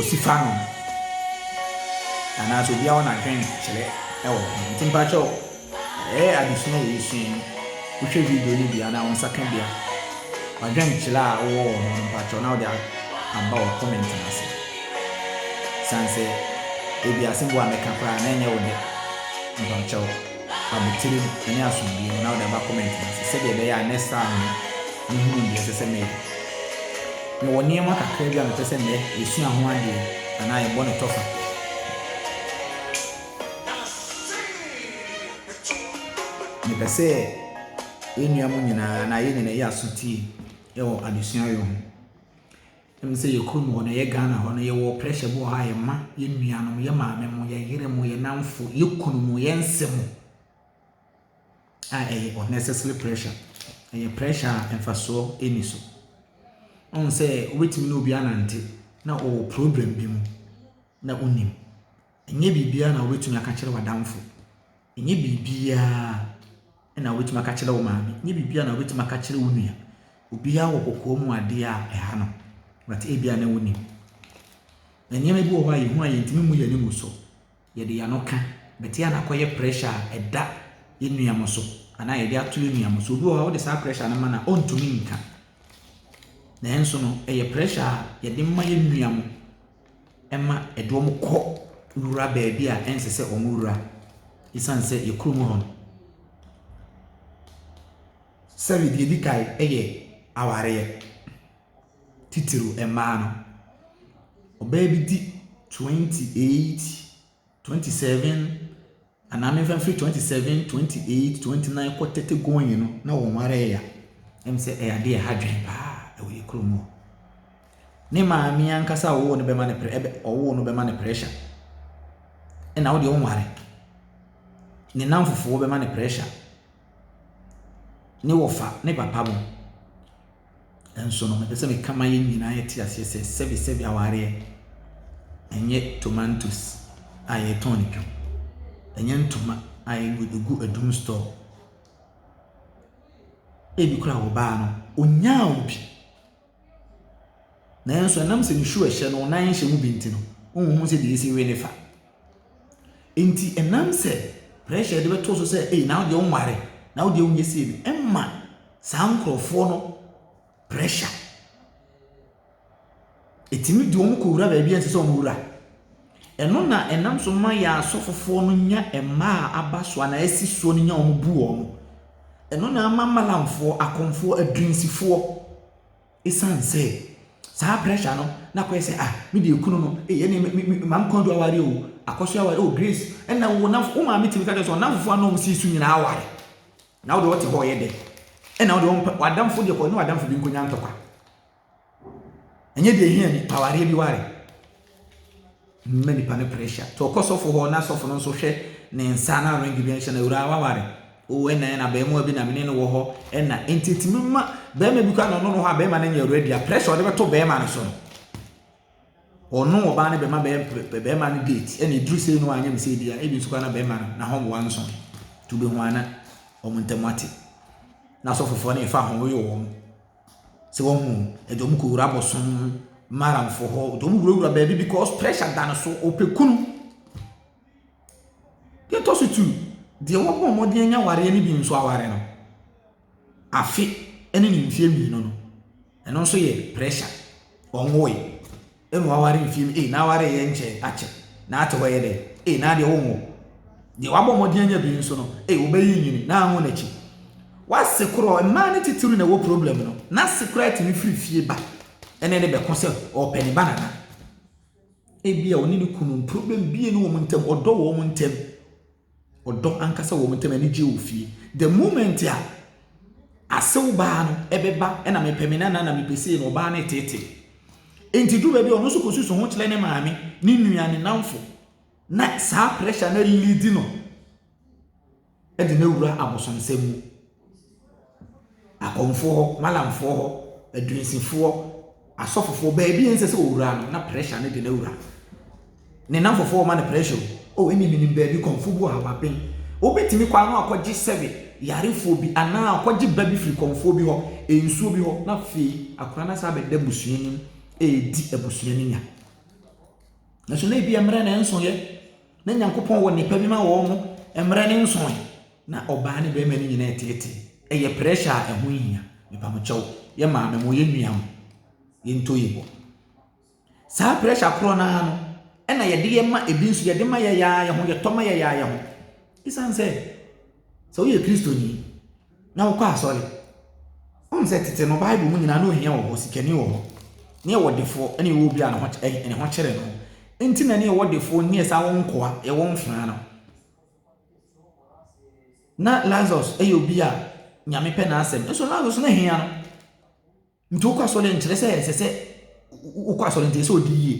osi fa no anaasɛ obiara wɔ n'adwen kyerɛ wɔ ho nti mpakyɛw ɛyɛ adesua yɛ sua yi wohwɛ video no bia na wo nsa ka bia wadwen kyerɛ a wowɔ wɔ ho mpakyɛw na wode aba wɔ comment no ase san sɛ ebi asɛm bi a mɛka koraa na ɛnyɛ wo dɛ mpakyɛw abotire mu ne asomdwoeɛ mu na wode aba comment no ase sɛdeɛ ɛbɛyɛ a next time no mɛhunu deɛ ɛsɛ sɛ meyɛ. Mewɔ nneɛma kakra bi a mepɛ sɛ mɛ yɛsua ho adeɛ anaa yɛbɔ no tɔfa. Mepɛ sɛ yɛn nua mu nyinaa anaa yɛn nyinaa yɛ aso tie wɔ adesua yɛ ho. Ɛm sɛ yɛ kurom hɔ no, yɛ Ghana hɔ no, yɛ wɔ pressure bi wɔ hɔ a yɛ ma yɛ nua nom, yɛ maame mo, yɛ yere mo, yɛ namfo, yɛ kunu mo, yɛ nse mo a ɛyɛ unnecessary pressure. Ɛyɛ pressure a mfasoɔ ɛni so. Ɔn sɛ wobɛtumi ne obi anante na ɔwɔ problem bi mu na wonim. Ɛnyɛ biribiara na wobɛtumi aka kyerɛ w'adamfo. Nyɛ biribiara na wobɛtumi aka akyerɛ wo maame. Nyɛ biribiara na wobɛtumi aka akyerɛ wo nua. Obiara wɔ kɔkɔɔ mu adeɛ a ɛha no, but ebia na wonim. Na nneɛma bi wɔ hɔ a yɛhu a yɛntumi mmu yɛn mu so. Yɛde yɛn ano ka, but yɛ a na akɔyɛ pressure a ɛda yɛn nua mo so anaa yɛde ato yɛn nua mo so. Obi wɔ hɔ a wode saa pressure no ma na ɔntumi nka. Nanso no, ɛyɛ pressure a yɛde ma yɛn nua mo. ɛma ɛde wɔn kɔ wura baabi a ɛnsɛ sɛ wɔn wura ɛsiane sɛ yɛ kurom hɔ no sɛbi deɛ ɛdi kan yɛ awareɛ titiriw mmaa no ɔbaa bi di twenty eight. twenty seven anaa mefa mfiri twenty seven twenty eight twenty nine kɔ thirty going no na wɔn ara yɛ ya ɛm sɛ ɛyɛ adeɛ ɛha dwen paa ɛwɔ yɛ kurom hɔ ne maame ankasa a ɔwɔ no bɛma no ɛbɛ ɔwɔ no bɛma no pressure ɛna wo deɛ ɔnware ne nan fufuo bɛma no pressure ne wɔfa ne papa mo. Nso no, mepɛ sɛ meka ma yɛn nyinaa yɛte aseɛ sɛ sɛbesɛbe awareɛ ɛnyɛ tomatoes a yɛtɔn no twam. Ɛnyɛ ntoma a yɛgu adum store. Ebi koraa wɔ baa no, onyaa wo bi. Nanso ɛnam sɛ nsuo ɛhyɛ no, nan hyɛ mu bi nti no, wonhu sɛ deɛ ɛsi we ne fa. Nti ɛnam sɛ pressure a yɛde bɛto wo so sɛ ei na wo deɛ wonware na wo deɛ wonyɛ sei no ɛma saa nkurɔfoɔ no pressure. Ɛtumi de wɔn kɔwura baabi a ɛnsɛ sɛ wɔwura. Ɛno na ɛnam so ma yɛn asɔfofoɔ no nya mmaa a aba so anaa asi soɔ no nya wɔn bu wɔn. Ɛno na ama malamfoɔ, akɔmfoɔ, adwinsifoɔ, Esiane sɛ saa pressure no na akɔyɛ sɛ ah me deɛ kunu no ei ɛne me me me maame kɔndu aware o akɔso aware o Grace ɛna wo nam wo maame tumi ka kyerɛ sɛ ɔnamfo a na wɔn si so nyinaa aware na wo deɛ ɔte hɔ ɔyɛ dɛ ɛna wo deɛ wɔn pɛ wadamfo deɛ kɔ ne wadamfo bi nkonya ntɔkwa ɛnyɛ deɛ hia bi awareɛ bi ware. Mma nipa no pressure. To kɔ sɔfo hɔ na sɔfo no nso hwɛ ne nsa na ring bi nhyɛ no. Awuraa waware o ɛna ɛna abɛɛmoa bi na mene no wɔ hɔ ɛna nti tumi ma bɛɛma bi kɔ a na ɔno no hɔ a bɛɛma no nyɛ ready a pressure ɔde bɛto bɛɛma no so no ɔno ɔbaa no bɛma bɛɛma no date ɛna ɛduru sei no anyɛ ne sɛ bi a ebi nso kɔ na bɛɛma no na hɔn wɔn nso to bɛhu ana ɔmo ntam ate na sɔfofoɔ no ɛfa ho yɛ wɔn Sɛ wahu ɛde wɔn kɔwura abɔso maramfo hɔ de wɔn wurawura baabi because pressure da no so ɔpɛ kunu deɛ ɛtɔ so tu deɛ wabɔ mmɔden anya awareɛ no bi nso aware no afe ne ne mfeɛ mmienu no ɛno nso yɛ pressure ɔnwoe. Emu aware mfie mu, ee n'aware yɛ nkyɛ akyɛ, n'ate hɔ yɛ dɛ, ee n'adeɛ wo nwo. Deɛ wabɔ mmɔden anya bi nso no, ee wobɛyi nyini, n'anwo n'akyi. W'ase korɔ, mmaa ne titiriw na ɛwɔ problem no, n'ase koraa tumi firi fie ba ɛne ne bɛko sɛ ɔɔpɛ ne banana. Ebia ɔne ne kunu, problem bie ne wɔn ntam, ɔdɔ wɔ wɔn ntam. ɔdɔ ankasa wɔ wɔn ntam, anigyeɛ wɔ fie. The moment a asew baa no ɛbɛba ɛna mepɛ me nana na mepɛ sei na ɔbaa no ɛteetee. Enti duru baabi a ɔno nso kɔsusu ho kyerɛ ne maame, ne nua, ne namfo na saa pressure no alidi no ɛde no awura abosomsɛm mu. akɔmfoɔ hɔ, Mallamfoɔ hɔ, adwinsifoɔ, asɔfofoɔ, baabi a ɛnsɛ sɛ ɔwura no na pressure no de no awura. Ne nnamfofoɔ ma no pressure o, oh ɛne menim baabi kɔmfoɔ bi wɔ ha waben. Wobɛtumi kɔ ano akɔgye sɛbe yarefoɔ bi anaa akɔgye ba bi firi kɔmfoɔ bi hɔ, nsuo bi hɔ, na afei akora no asa abɛda abusua anim ɛredi abusua no nya. Nanso na ebi mmerɛ na ɛnsoeɛ. Na Nyankopɔn wɔ nnepa bi ma wɔn mo, mmerɛ ne nsonoe. Na ɔbaa ne bɛɛma no nyinaa ɛteetee. Ɛyɛ pressure a ɛho nhia. Mepamokyɛw, yɛ maame mo, yɛ nua mo, yɛ ntɔ yi bɔ. Saa pressure korɔ no ara no, ɛna yɛde yɛ ma ebi nso, yɛde ma yɛ yɛ ara yɛ ho, yɛtɔ ma yɛ yɛ ara yɛ ho. Esiane sɛ, sɛ woyɛ Kristoni, na wokɔ asɔre. Wonim sɛ tete no Bible mu nyinaa na ohia wɔ hɔ, sikani wɔ hɔ, ne ɛwɔ defoɔ ɛne ɛwɔ obi a ne ho eh, ne ho kyerɛ no. Nti na ne ɛwɔ defoɔ nyɛ saa wɔn nkoa, ɛwɔ mfenaa no. Na Lazarus ɛyɛ obi a nyame pɛ n'asɛm. Nso Lazarus na hia no. Nti wokɔ asɔre nkyerɛ sɛ ɛsɛ sɛ wokɔ asɔre nti ɛsɛ ɔdi yie.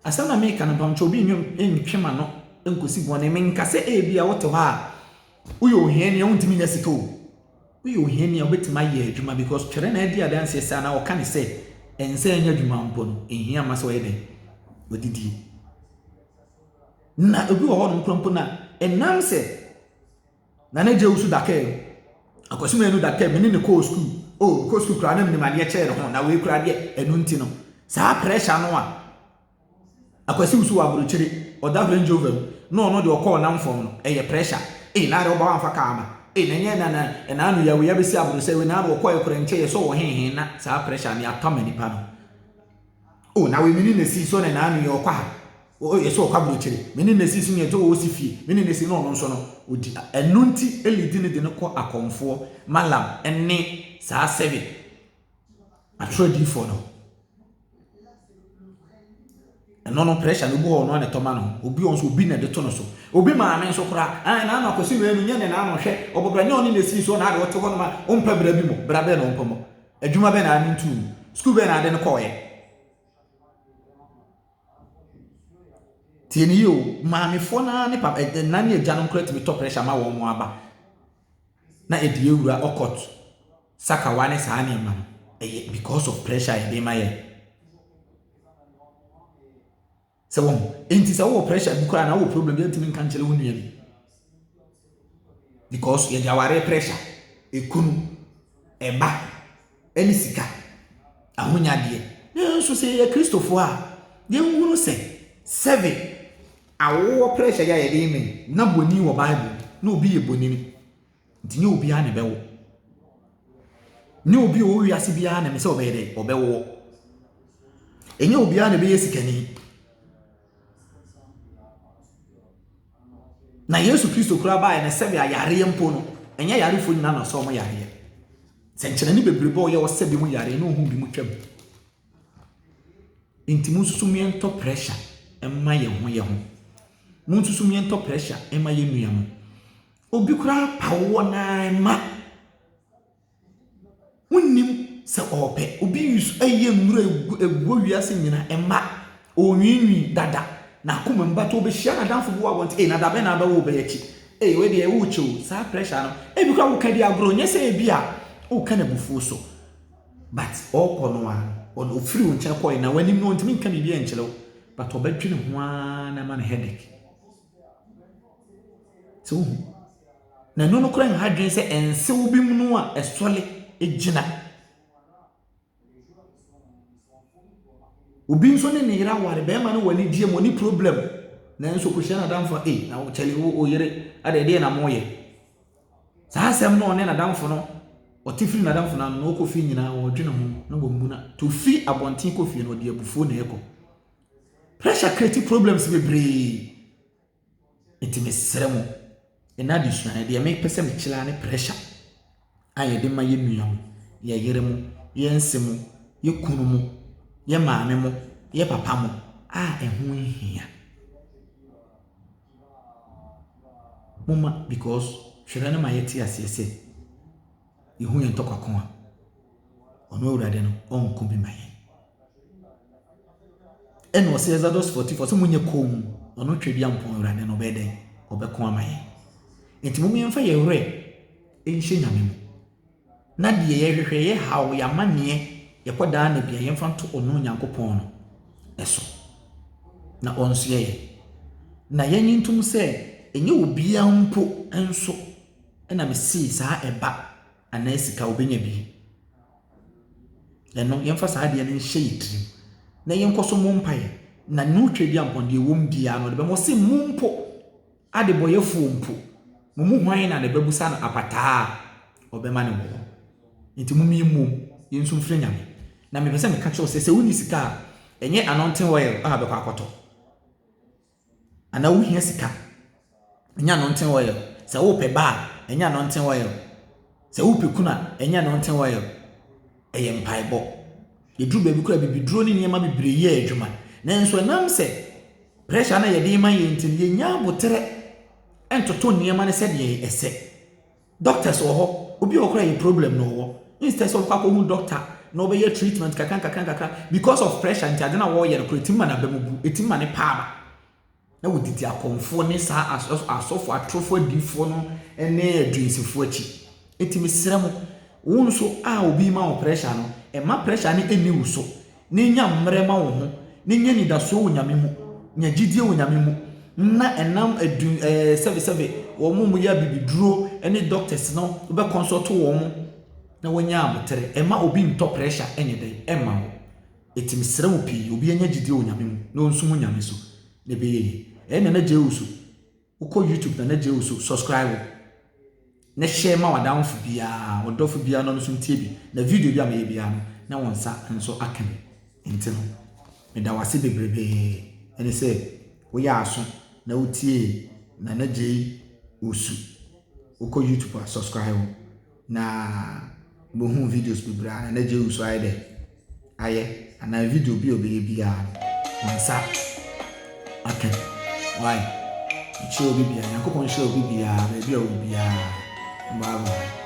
Asɛm na meka no mpamokyɛ obi nnwom ntwe ma no nkɔsi bɔne. Menka sɛ ebi a wote hɔ a woyɛ ohiani a wontumi nya sika o. Woyɛ ohiani a wobɛtumi ayɛ adwuma because twɛrɛ na adi adanseɛ sɛ anaa ɔka ne sɛ ɛnsɛ ɛnyɛ adwuma mpo no ɛhia ma sɛ ɔyɛ dɛn ɔdidie. Na obi wɔ hɔ no nkura mpo na ɛnam sɛ Nana Gyau nso da kaa mu. Akwasi Manu da kaa mu, me ne no kɔɔ sukuu. O, mekɔɔ sukuu koraa na menim adeɛ kyɛɛ ne ho, na wei koraa deɛ, ɛno nti no, saa pressure no a Akwasi nso wɔ aburokyire, ɔda Range Rover mu, na ɔno deɛ ɔkɔɔ nam fam no, ɛyɛ pressure. Ei, Nana woba woamfa kaa amma. Ei, na ɛnyɛ Nana, ɛnaa no yɛ wei abɛsi Abrosɛe wei, Nana ɔkɔeɛ koraa nkyɛ yɛsɔɔ wɔ he he, na saa pressure no, yɛapam nnipa no. Oh, na wei me ne na sii so ne na ano yi ɔkɔ ha. Oh, yɛ so ɔkɔ aburokyire. Me ne na sii so yɛn sɛ wɔwɔ si fie. Me ne na sii na ɔno nso no odi. Ɛno nti Eli di ne de no kɔ akɔmfoɔ, Malam ne saa sɛbe atwerɛ diifoɔ no. Ɛno no pressure no obi hɔ ɔno a na ɛtɔ ma no. Obi ɔnso obi na ɛde to no so. Obi maame nso koraa. Ɛn na ano akɔsi no ɛnu nyɛ ne na ano hwɛ. Ɔbɔbra nyɛ ɔne na sii so na ade ɔte hɔ no ma ɔmpɛ bra bi mo. Bra bɛɛ na ɔmpɛ mo. Adwuma bɛn na Armin too mu? Sukuu bɛn na ɔde no kɔe? Tie no yie o, maamefoɔ no ara ne pap ɛ ɛna ne agyanom koraa tumi tɔ pressure ma wɔn aba na ɛde awura ɔkɔt sakawa ne saa nneɛma no ɛyɛ because of pressure a yɛde ma yɛn. Sɛ wɔn ho. Enti sɛ wowɔ pressure bi koraa na wowɔ problem bi a ntumi nka nkyerɛ wo nua bi. Because yɛde aware pressure, ekunu, ɛba, ɛne sika, ahonyadeɛ. Nanso sɛ yɛyɛ Kristofoɔ a, yɛnhunu sɛ sɛbe awowɔ pressure yɛ a yɛde yɛ mɛn na bɔni wɔ Bible na obi yɛ bɔnini. Nti nyɛ obiara na ɛbɛwo. Nyɛ obi a ɔwɔ wiase biara na ɛsɛ sɛ ɔbɛyɛ dɛ ɔbɛwoɔ. Ɛnyɛ obiara na ɛbɛyɛ sikani. Na Yesu Kristo koraa baeɛ no sɛbi ayareɛ mpo no, ɛnyɛ ayarefoɔ nyinaa na ɔsɛ wɔn yareɛ. Sɛ nkyerɛne bebrebe a ɔyɛ ɔsɛ bi mu yareɛ na ɔhu bi mu twam. Nti mo nso mmea ntɔ pressure mma yɛn ho yɛn ho. Mo nso mmea ntɔ pressure mma yɛn nua mo. Obi koraa pa wo wɔ no ara ma. Wonnim sɛ ɔrepɛ. Obi use ɛyɛ nnuro egu eguo wiase nyina ɛma. Ɔrenwiinwii dada n'akoma mu but ɔbɛhyia n'adamfo bi wɔ abɔnten ei na da bɛn na abɛwo wo bɛyɛ akyi ei wei deɛ wo kyɛ o saa pressure no ebi koraa woka di agorɔ nyɛ sɛ ebi a woka no abufuo so but ɔkɔ no a ɔno ofiri wo nkyɛn kɔe na w'anim no ɔntumi nka biribi nkyerɛ wo but ɔbɛdwene ho ara na ɛma no headache. So wohu? Na ɛno no koraa nha dwen sɛ nsew binom a ɛsɔre gyina. Obi nso ne ne yere aware, barima no wɔ anigyeɛ mu, ɔne problem. Nanso kɔhyia n'adamfo a, ei, na kyɛle wo wo yere ada ɛdeɛ na moyɛ. Saa asɛm no ɔne n'adamfo no, ɔte firi n'adamfo no ano na ɔkɔ fie nyinaa ɔredwene ho na wammuna. To fi abɔnten kɔ fie no, ɔde abufuo na ɛkɔ. Pressure create problems bebree. Nti mesrɛ mo, ɛnnɛ adesua no, deɛ mepɛ sɛ mekyerɛ ara ne pressure a yɛde ma yɛn nua mo, yɛn yere mo, yɛn se mo, yɛn kunu mo, yɛn maame mo, yɛn papa mo a ɛho nhia. Momma because twerɛ no ma yɛte aseɛ sɛ yɛhu yɛn ntɔkwa ko a ɔno awurade no ɔnko bi ma yɛn ɛna ɔsɛ exodus 44 sɛ monyɛ kɔn mu ɔno twɛ dua mpɔn awurade no ɔbɛyɛ dɛn ɔbɛko ama yɛn nti mom yɛmfa yɛ werɛ nhyɛ nyame mu na deɛ yɛhwehwɛ yɛ haw yɛ amanneɛ yɛkɔ daa na bia yɛmfa nto ɔno onyankopɔn no ɛso na ɔnsoɛ yɛ na yɛnye ntom sɛ ɛnyɛ obiara mpo nso Ɛna me see saa ɛba anaa sika wobɛnya bi ɛno yɛmfa saa adeɛ no nhyɛ yɛ tirim na yɛnkɔ so mo mpaeɛ na no twa bia mpɔn deɛ wɔm biara no ɔde bɛma ɔse mo mpo adebɔyɛfoɔ mpo mo mu hwan na ne bɛbusa no apataa a ɔbɛma no wɔ hɔ nti mo mie mmom yɛn nso mfiri nyame na mepɛ sɛ meka kyerɛ sɛ sɛ wonni sika a ɛnyɛ anointing oil a bɛkɔ akɔtɔ anaa wohia sika, ɛnyɛ anointing oil. Sɛ wopɛ ba a, ɛnyɛ anointing oil. Sɛ wopɛ kunu a, ɛnyɛ anointing oil. Ɛyɛ mpaebɔ. Ɛduru baabi koraa a, bibiduro ne nneɛma bebree yɛ adwuma. Nanso ɛnam sɛ pressure no a yɛde rema yɛn nti no, yɛnnya aboterɛ ntoto nneɛma no sɛdeɛ ɛsɛ. Doctors wɔ hɔ, obi wɔ hɔ koraa yɛ problem na ɔwɔ, instead sɛ ɔbɛkɔ akɔhu doctor na ɔbɛyɛ treatment kakra nkakra nkakra, because of pressure nti ade no a ɔreyɛ no koraa ɛtumi ma n'aba mu bu, ɛtumi ma ne pɛ aba. Na wɔdidi akɔmfoɔ ne saa as as asɔfoɔ atorofoɔ adiyifoɔ no ne aduansifoɔ akyi. Nti mesrɛ mo, wo nso a obi rema wo pressure no, mma pressure no nni wo so. Ne nya mmerɛ ma wo ho, ne nya anidasoɔ wɔ Nyame mu, nya gyidie wɔ Nyame mu, na ɛnam adu ɛɛ sɛbe sɛbe wɔn a wɔyɛ abibiduro ne doctors no bɛ consult wɔn na wɔanya aboterɛ. Ɛma obi ntɔ pressure ɛnyɛ dɛ ɛmma wo. Eti mesrɛ wo pii, obi anya gyidie wɔ Nyame mu na ɔnsumu Nyame so na ɛbɛyɛ yie. Ɛɛ Nana Gyau so Wokɔ YouTube Nana Gye O so subscribe na share ma w'adamfo biara, ɔdɔfo biara na ɔno nso ntie bi. Na video bi a meyɛ biara no, na wɔn nsa nso aka bi. Nti no, meda wo ase bebrebe ɛne sɛ woyɛ aso na wotie Nana Gye Osu. Wokɔ YouTube a subscribe. Na bohun videos bebree a na Jehu so ayɛ dɛ ayɛ anaa video bi a ɔbɛyɛ biara no ne nsa aka bi. Why? Nhyira obi biara. Nyankopɔn nhyira obi biara baabi a ɔwɔ biara. Bye bye.